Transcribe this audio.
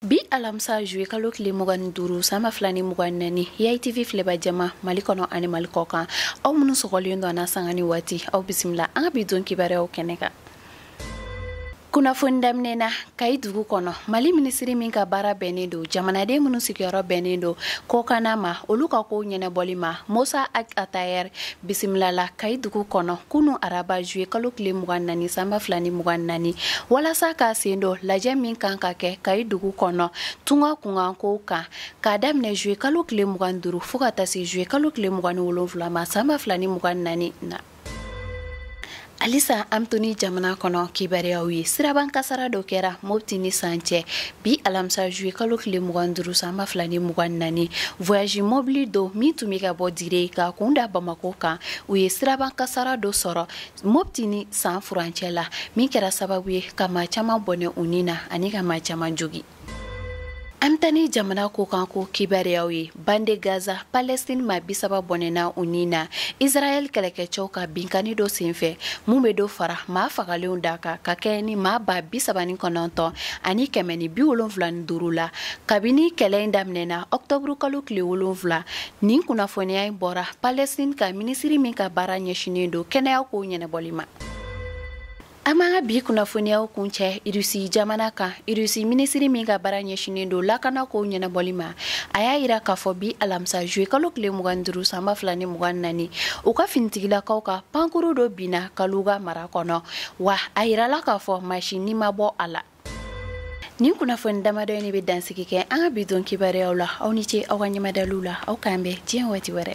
bi alamisa juwe kalo tile mugan ni duuru san ba fila ni mugan ni naani yai tv filɛba jama mali kɔnɔ ani mali kɔ kan aw minnu sɔgɔlen don an na sanga ni waati aw bisimila an ka bi don kibaruyaw kɛnɛ kan kunnafoni daminɛna kayi dugu kɔnɔ mali minisiri min ka baara bɛnnen don jamanaden minnu sigiyɔrɔ bɛnnen don kɔkanna ma olu ka kow ɲɛnabɔli ma mosa ag atayɛr bisimilala kayi dugu kɔnɔ kunu araba juye kalo tile mugan nani sanba fila ni mugan nani walasa k'a sen don lajɛ min kan ka kɛ kayi dugu kɔnɔ tunga kunkankow kan k'a daminɛ juye kalo tile mugan duru fɔɔ ka ta se juye kalo tile mugan ni wolonfila ma sanba fila ni mugan nani na Alisa an bɛ to ni jamana kɔnɔ kibaruyaw ye siraban kasara dɔ kɛra mopti ni san cɛ bi alamisa zuye kalo tile mugan duuru san ba fila ni mugan naani voyasi mɔbili dɔ min tun bɛ ka bɔ dire ka kun da bamakɔ kan u ye siraban kasara dɔ sɔrɔ mopti ni san furancɛ la min kɛra sababu ye ka ma caman bɔnɛ u ni na ani ka ma caman jogin An bɛ taa ni jamana kɔkan ko kibaruyaw ye bande gaza palɛstini maa bi saba bɔnɛna u ni na israel kɛlɛkɛcɛw ka binkanni dɔ senfɛ minnu bɛ dɔ fara maa fagalenw da kan ka kɛɲɛ ni maa ba bi saba ni kɔnɔntɔn ani kɛmɛ ni bi wolonwula ni duuru la kabini kɛlɛ in daminɛna ɔkutɔburukalo tile wolonwula nin kunnafoniya in bɔra palɛstini ka minisiri min ka baara ɲɛsinnen don kɛnɛya kow ɲɛnabɔli ma an b'an ka bi kunnafoniyaw kuncɛ irisi jamana kan irisi minisiri min ka baara ɲɛsinen don lakana kow ɲɛnabɔli ma a y'a yira k'a fɔ bi alamisa juwe kalo tile mugan duru sanba fila ni mugan nani u ka finitigilakaw ka pankuru dɔ binna kaluga mara kɔnɔ wa a yirala k'a fɔ maa si ni ma bɔ a la Nin kunnafoni damadɔ in de bɛ dansigi kɛ an ka bi don kibaruyaw la aw ni ce aw ka ɲɛmadali la aw k'an bɛn diɲɛ waati wɛrɛ